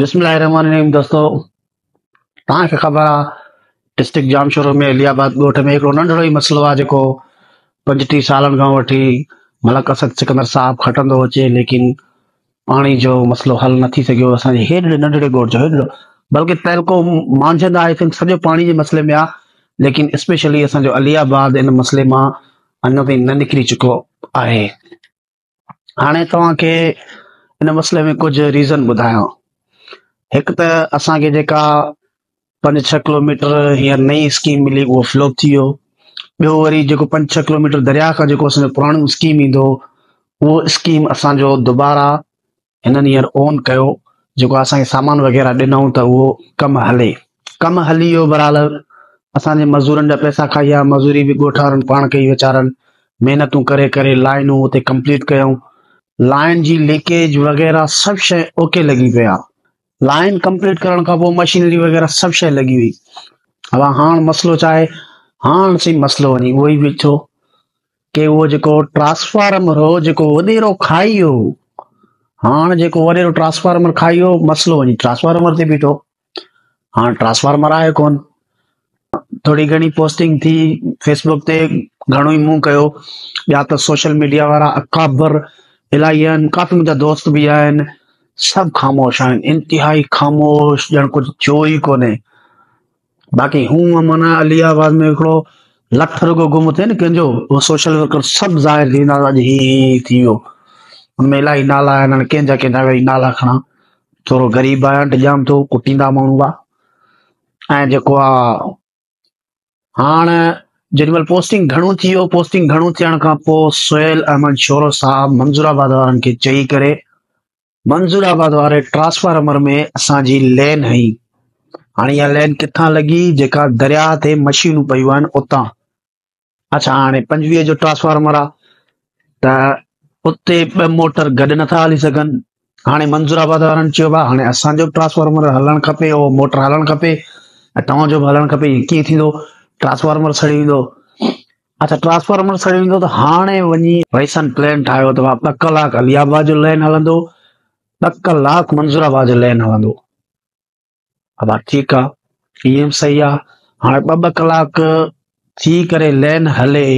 بسم الله الرحمن الرحيم دوستو تان کي خبر آ ڊسٽرڪٽ جام شورو ۾ علي آباد ڳوٺ ۾ هڪڙو ننڍڙو ئي مسئلو آ جيڪو پنجٽيهه سالن کان وٺي ملڪ اسد سڪندر صاحب کٽندو اچي ليڪن پاڻي جو مسئلو حل نه ٿي سگهيو اسان جي هيڏڙي ننڍڙي ڳوٺ جو هيڏڙو بلڪه تعلقو مانجهند آهي تن سڄو پاڻي جي مسئلي ۾ آ ليڪن اسپيشلي اسان جو علي آباد ان مسئلي مان اڃا تائين نه نڪري چڪو آهي هاڻي توهان کي ان مسئلي ۾ ڪجهه ريزن ٻڌايان هڪ ته اسان کي جيڪا پنج ڇهه ڪلوميٽر هينئر نئي اسڪيم ملي اهو فلوپ ٿي ويو ٻيو وري جيڪو پنج ڇهه ڪلوميٽر درياء کان جيڪو اسان جو پراڻو اسڪيم ايندو هو اسڪيم اسان جو دوبارا هنن هينئر اون ڪيو جيڪو اسان کي سامان وغيره ڏنائون ته اهو ڪم هلي ڪم هلي ويو برحال اسان جي مزورن جا پيسا کائي ويا مزوري به ڳوٺ وارن پاڻ ڪئي ويچارن محنتون ڪري ڪري لائنون اتي ڪمپليٽ ڪيائون لائن جي ليڪيج وغيره سڀ شيء اوڪي لڳي پيا لائن ڪمپليٽ ڪرڻ کان پوء مشينري وغيره سڀ شيء لڳي وئي اها هاڻ مسئلو چاهي هاڻ سي مسئلو وڃي اهو ئي بيٺو ڪي اهو جيڪو ٽرانسفارمر هو جيڪو وڏيرو کائي ويو هو هاڻ جيڪو وڏيرو ٽرانسفارمر کائي ويو مسئلو وڃي ٽرانسفارمر تي بيٺو هاڻ ٽرانسفارمر آهي ڪون ٿوري گهڻي پوسٽنگ ٿي فيسبوڪ تي گهڻو ئي مون ڪيو ٻيا ته سوشل ميڊيا وارا اڪابر الاهي آهن ڪافي منهنجا دوست به آهن سڀ خاموش آهن انتهائي خاموش ڄڻ ڪجهه ٿيو ئي ڪونهي باقي هونء معنيٰ علي آباد ۾ هڪڙو لک رڳو گم ٿئي نه ڪنهن جو اهو سوشل ورڪر سڀ ظاهر ٿي ويندا اڄ هي هي هي ٿي ويو. ان ۾ الائي نالا آهن هاڻي ڪنهن جا ڪنهن جا ويهي نالا کڻان. ٿورو غريب آهيان ڊڄان ٿو ڪٽيندا ماڻهو هئا. ۽ جيڪو آ هاڻ جيڏي مهل پوسٽنگ گهڻو ٿي ويو پوسٽنگ گهڻو ٿيڻ کان پوء سهيل احمد شورو صاحب منظور آباد وارن کي چئي ڪري منظور آباد واري ٽرانسفارمر ۾ اسان جي لين هئي هاڻي اها لين ڪٿان لڳي جيڪا درياهه تي مشينون پيون آهن اتان اچھا هاڻي پنجويهه جو ٽرانسفارمر آهي ته اتي ٻه موٽر گڏ نٿا هلي سگھن هاڻي منظور آباد وارن چيو بھا هاڻي اسان جو ٽرانسفارمر هلڻ کپي اهو موٽر هلڻ کپي ۽ توهان جو به هلڻ کپي ڪيئن ٿيندو ٽرانسفارمر سڙي ويندو اچا ٽرانسفارمر سڙي ويندو ته هاڻي وڃي ويسن پلين ٺاهيو ته ٻه ڪلاڪ علي آباد جو لين هلندو ٻه ڪلاڪ منظور آباد جو لين هلندو ابا ٺيڪ آ اي ايم صحيح آ هاڻي ٻه ٻه ڪلاڪ ٿي ڪري لين هلي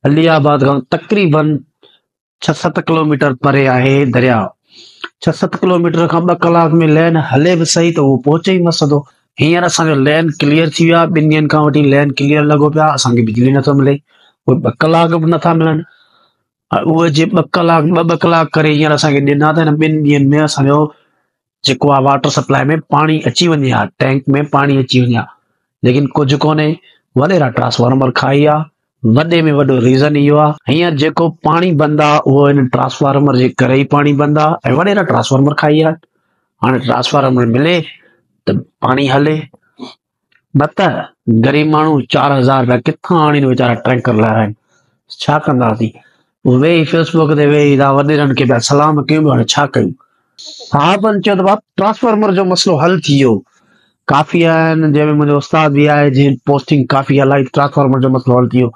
علي آباد کان تقريبن ڇهه ست ڪلوميٽر پري آهي درياء ڇهه ست ڪلوميٽر کان ٻه ڪلاڪ ۾ لين هلي به صحيح ته اهو پهچي ئي نه سڌو هينئر اسان جو لين ڪليئر ٿي ويو آهي ٻن ڏينهن کان وٺي لين ڪليئر لڳو پيو آهي اسان کي بجلي نٿو ملي اهي ٻه ڪلاڪ به نٿا ملن اهي جي ٻه ڪلاڪ ٻه ٻه ڪلاڪ ڪري هينئر اسان کي ڏنا ته هن ٻن ڏينهن ۾ اسان جو جيڪو آ واٽر سپلاء ۾ پاڻي اچي وڃي ها، ٽينڪ ۾ پاڻي اچي وڃي ها، ليڪن ڪجهه ڪونهي، وڏيرا ٽرانسفارمر کائي ويا، وڏي ۾ وڏو ريزن اهو آ، هينئر جيڪو پاڻي بند آ اهو هن ٽرانسفارمر جي ڪري ئي پاڻي بند آ ۽ وڏيرا ٽرانسفارمر کائي ويا، هاڻي ٽرانسفارمر ملي ته پاڻي هلي. نه ته غريب ماڻهو چار هزار رپيا ڪٿان آڻين ويچارا ٽرينڪر لارائين ڇا ڪنداسين ويهي فيس بوڪ تي ويهي دا وڏيرن کي پيا سلام ڪيون هاڻي ڇا ڪيون صاحبن چيو ته باب ٽرانسفارمر جو مسئلو حل ٿي ويو ڪافي آهن جنهن ۾ منهنجو استاد به آهي جنهن پوسٽنگ ڪافي هلائي ٽرانسفارمر جو مسئلو حل ٿي ويو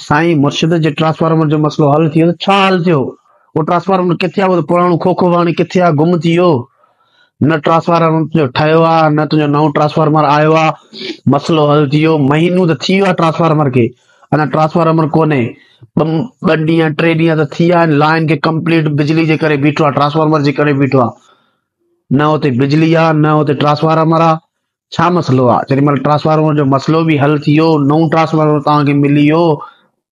سائين مرشد جي ٽرانسفارمر جو مسئلو حل ٿي ويو ته ڇا حل ٿيو اهو ٽرانسفارمر ڪٿي آهي اهو ته پراڻو کوکو هاڻي ڪٿي آهي گم ٿي ويو نه ٽرانسفارمر تنهنجو ٺهيو آ نه تنهنجو نئون ٽرانسفارمر آيو آ مسئلو حل ٿي ويو مهينو ته ٿي ويو آ ٽرانسفارمر کي اڃا ٽرانسفارمر ڪونهي ٻه ڏينهن ٽي ڏينهن ته ٿي ويا آهن لائن کي ڪمپليٽ بجلي جي ڪري بيٺو آ ٽرانسفارمر جي ڪري بيٺو آ نه اتي بجلي آ نه اتي ٽرانسفارمر آ ڇا مسئلو آ جيڏي مهل ٽرانسفارمر جو مسئلو به حل ٿي ويو نئون ٽرانسفارمر توهان کي ملي ويو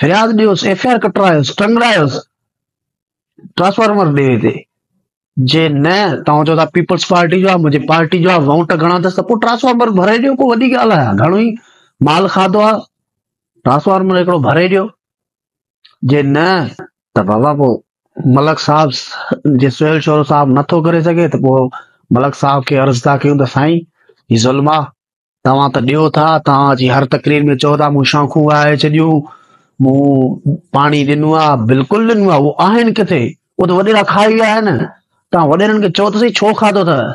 فرياد ڏيوس ايف آء آر ڪٽرايوس ٽنگرايوس ٽرانسفارمر ڏي هتي جي نه توهان چو ٿا پيپلز پارٽي جو منهنجي پارٽي جو آهي ووٽ گهڻا اٿس ته پوء ٽرانسفارمر ڀري ڏيو ڪو وڏي ڳالهه آهي گهڻو ئي مال کاڌو آهي ٽرانسفارمر هڪڙو ڀري ڏيو جي نه ته بابا پوء ملڪ صاحب جي سهيل شورو صاحب نٿو ڪري سگهي ته پوء ملڪ صاحب کي عرض ٿا ڪيون ته سائين هي ظلم آ توهان ته ڏيو ٿا، توهان جي هر تقرير ۾ چئو ٿا مون شاخون وهائي ڇڏيون، مون پاڻي ڏنو آهي، بلڪل ڏنو آهي، اهي آهن ڪٿي، اهي ته وڏيرا کائي ويا آهن، توهان وڏيرن کي چئو ته سهي ڇو کاڌو اٿئي،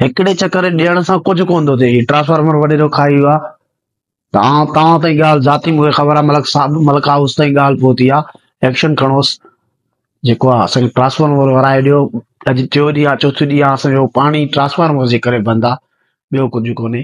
هڪڙي چڪر ڏيڻ سان ڪجهه ڪونه ٿو ٿئي، ٽرانسفارمر وڏيرو کائي ويو آهي، توهان توهان تائين ڳالهه ذاتي مون کي خبر آهي ملڪ صاحب، ملڪ هائوس تائين ڳالهه پهتي آهي، ايڪشن کڻوس. جيڪو آ اسانکي ٽرانسفارمر ورايو ڏيو اڄ ٽيو ڏينهن آ چوٿون ڏينهن آ اسانجو پاڻي ٽرانسفارمر جي ڪري بند آ ٻيو ڪجهه ڪونهي